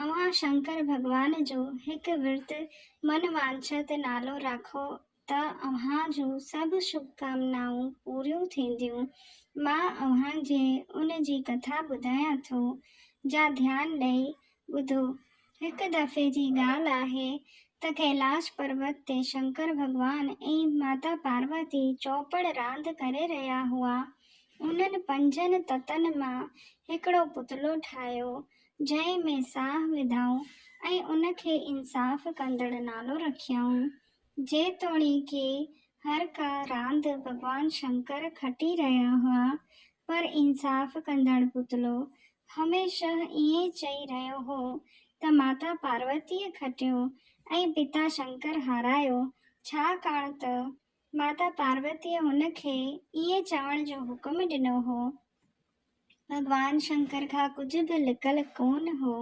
اوهان شنڪر ڀڳوان جو هڪ ورت من وانڇت نالو راکو ته اوهان جون سڀ شڀڪامنائون پوريون ٿينديون. مان اوهان جي ان جي ڪٿا ٻڌايان ٿو جا ڌيان ڏئي ٻڌو. هڪ دفعي جي ڳالهه آهي ته ڪيلاش پروت تي شنڪر ڀڳوان ۽ ماتا پاروتي چوپڙ راند ڪري رهيا هئا. انهن پنجن تتن مان هڪڙو پتلو ٺاهيو جنهن ۾ ساهه وڌائون ۽ ان کي انصاف ڪندڙ نالو رکيائون. جيتوڻيڪ هر ڪا راند ڀڳوان شنڪر کٽي رهيا هئا، پر انصاف ڪندڙ پتلو هميشه ائين چئي رهيو هو ته ماتا پاروتيء کٽيو ۽ پتا شنڪر هارايو، ڇاڪاڻ ته ماتا پاروتيء هن کي ائين چوڻ جو حڪم ڏنو هو. ڀڳوان شنڪر کان ڪجهه به لڪل ڪونه هو،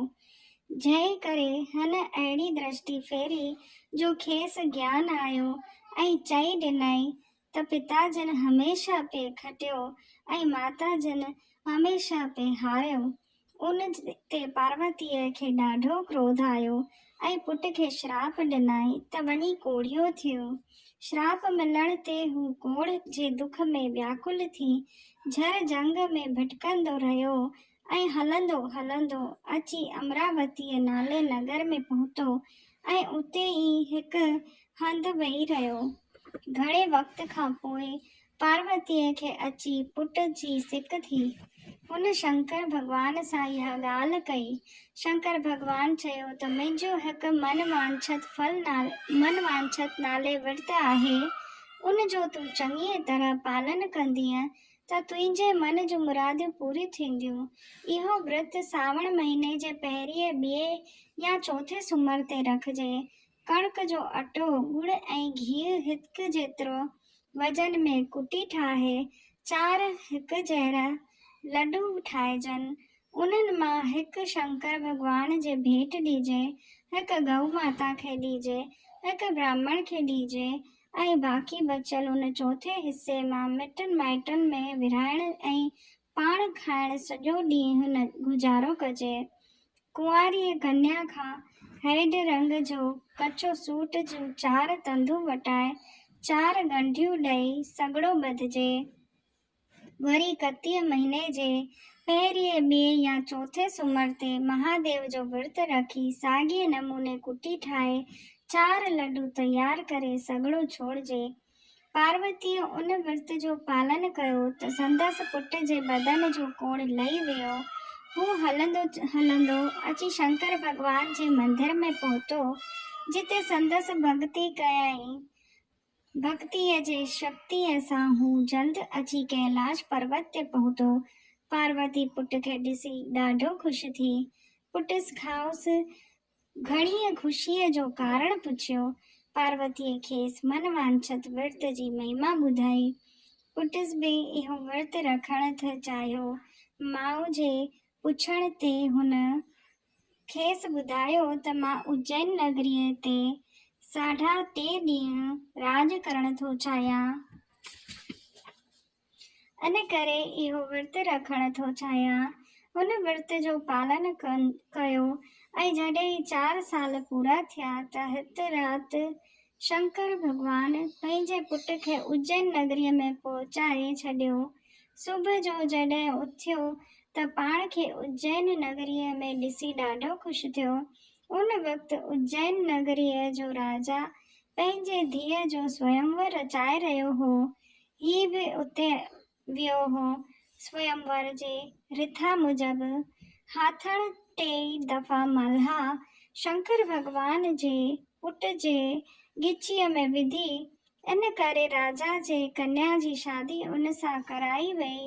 جنهن ڪري هن اهڙي درشٽي ڦيري جو کيس گيان آيو ۽ چئي ڏنائين ته پتا جن هميشه پئي کٽيو ۽ ماتا جن هميشه پئي هاريو. ان تي پاروتيء کي ڏاڍو ڪروڌ آيو ۽ پٽ کي شراپ ڏنائين ته وڃي ڪوڙيو ٿيو. شراپ ملڻ تي هو ڪوڙهه جي دک ۾ وياڪل ٿي جهر جهنگ ۾ ڀٽڪندو رهيو ۽ هلندو هلندو اچي امراوتيء نالي نگر ۾ پهتو ۽ اتي ئي هڪ هنڌ ويهي رهيو. گهڻي وقت کان پوء پاروتيء کي اچي پٽ جي سڪ ٿي. هن شنڪر ڀڳوان سان اها ڳالهه ڪئي. شنڪر ڀڳوان چيو ته منهنجو هڪ من وانڇت ڦل نال من وانڇت نالي ورت آهي، ان جو تون چڱيء طرح پالن ڪندينء ته تنهنجي من جون مراديون پوريون ٿينديون. اهو ورت ساوڻ مهيني جي پهرينء، ٻيئي يا چوٿين سومر تي رکجي، ڪڻڪ جو اٽو، ڳڙ ۽ گيهه هڪ جيترو وزن ۾ ڪٽي ٺاهي چار هڪ جهڙا لڏو ٺاهجن. انهن مان هڪ شنڪر ڀڳوان جي ڀيٽ ڏجي، هڪ گئو ماتا کي ڏجي، هڪ براهمڻ کي ڏجي ۽ باقي بچيل ان چوٿين حصي مان مٽن مائٽن ۾ ورهائڻ ۽ پاڻ کائڻ سڄو ڏينهن گذارو ڪجي. ڪنواريء ڪنيا کان هيڊ رنگ جو ڪچو سوٽ جون چار تندون وٽائي، چار ڳنڍيون ڏئي سڳڙو ٻڌجي. وري ڪتيء مهيني جي پهرينء، ٻئي يا چوٿين سومر تي مهاديو جو ورت رکي ساڳئي نموني ڪٽي ٺاهي، چار لڏو تيار ڪري سڳڙو ڇوڙجي. پاروتيء ان ورت جو پالن ڪيو ته سندس پٽ جي بدن جو ڪوڙ لهي ويو. هو هلندو هلندو اچي شنڪر ڀڳوان جي مندر ۾ پهتو، جتي سندس ڀڳتي ڪيائين. ڀڳتيء جي شڪتيء سان هو جلد اچي ڪيلاش پروت تي پهتو. پاروتي پٽ کي ڏسي ڏاڍو خوش ٿي. پٽس کائوس گهڻيء خوشيء جو ڪارڻ پڇيو. پاروتيء کيس من وانڇت ورت جي مهما ٻڌائي. پٽس به اهو ورت رکڻ ٿي چاهيو. ماء جي پڇڻ تي هن کيس ٻڌايو ته مان اجين نگريء تي ساڍا ٽي ڏينهن راڄ ڪرڻ ٿو چاهيان. ان ڪري اهو ورت رکڻ ٿو چاهيان. هن ورت جو پالن ڪيو ۽ جڏهن چار سال پورا ٿيا ته هت رات شنڪر ڀڳوان پنهنجي پٽ کي اجين نگريء ۾ پهچائي ڇڏيو. صبح جو جڏهن اٿيو ته پاڻ کي اجين نگريء ۾ ڏسي ڏاڍو خوش ٿيو. ان وقت اجين نگريء جو راجا پنهنجي ڌيء جو سوئمور رچائي رهيو هو. هي به اتي ويو هو. سوئمور جي رٿا موجب هاٿڻ ٽيئي دفعا مالها شنڪر ڀڳوان جي پٽ جي ڳچيء ۾ وڌي، ان ڪري راجا جي ڪنيا جي شادي ان سان ڪرائي ويئي.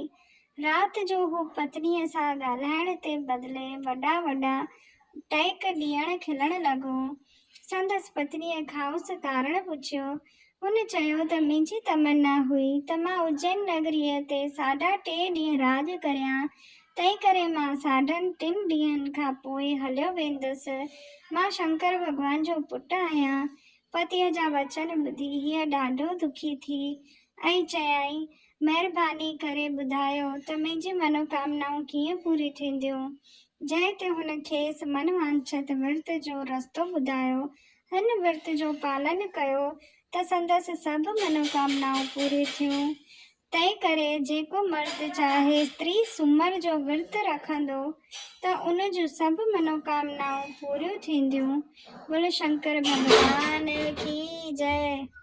رات جو هو پتنيء سان ڳالهائڻ تي بدلي وڏا وڏا ٽهڪ ڏيڻ کلڻ لڳو. سندس پتنيء کائنس ڪارڻ پڇيو. هن چيو ته منهنجي تمنا هئي ته مان اجين نگريء تي ساڍا ٽي ڏينهن راڄ ڪريان، تنهنڪري مان ساڍن ٽن ڏينهن کان پوء هليو ويندس. مان شنڪر ڀڳوان جو پٽ آهيان. پتيء جا وچن ٻڌي هيء ڏاڍو دکي ٿي ۽ چيائين، مهرباني ڪري ٻڌايو ته منهنجي منوڪامنائون ڪيئن پوري ٿينديون؟ جنهن تي هن کيس من وانڇت ورت جو رستو ٻڌايو. هن ورت جو پالن ڪيو ته سندس سڀ منوڪامنائون پوري ٿيون. تنهن ڪري جيڪو مرد چاهي استري سومر جو ورت رکندو ته ان جون سڀ منوڪامنائون پوريون ٿينديون. بولو شنڪر ڀڳوان ڪي جئه.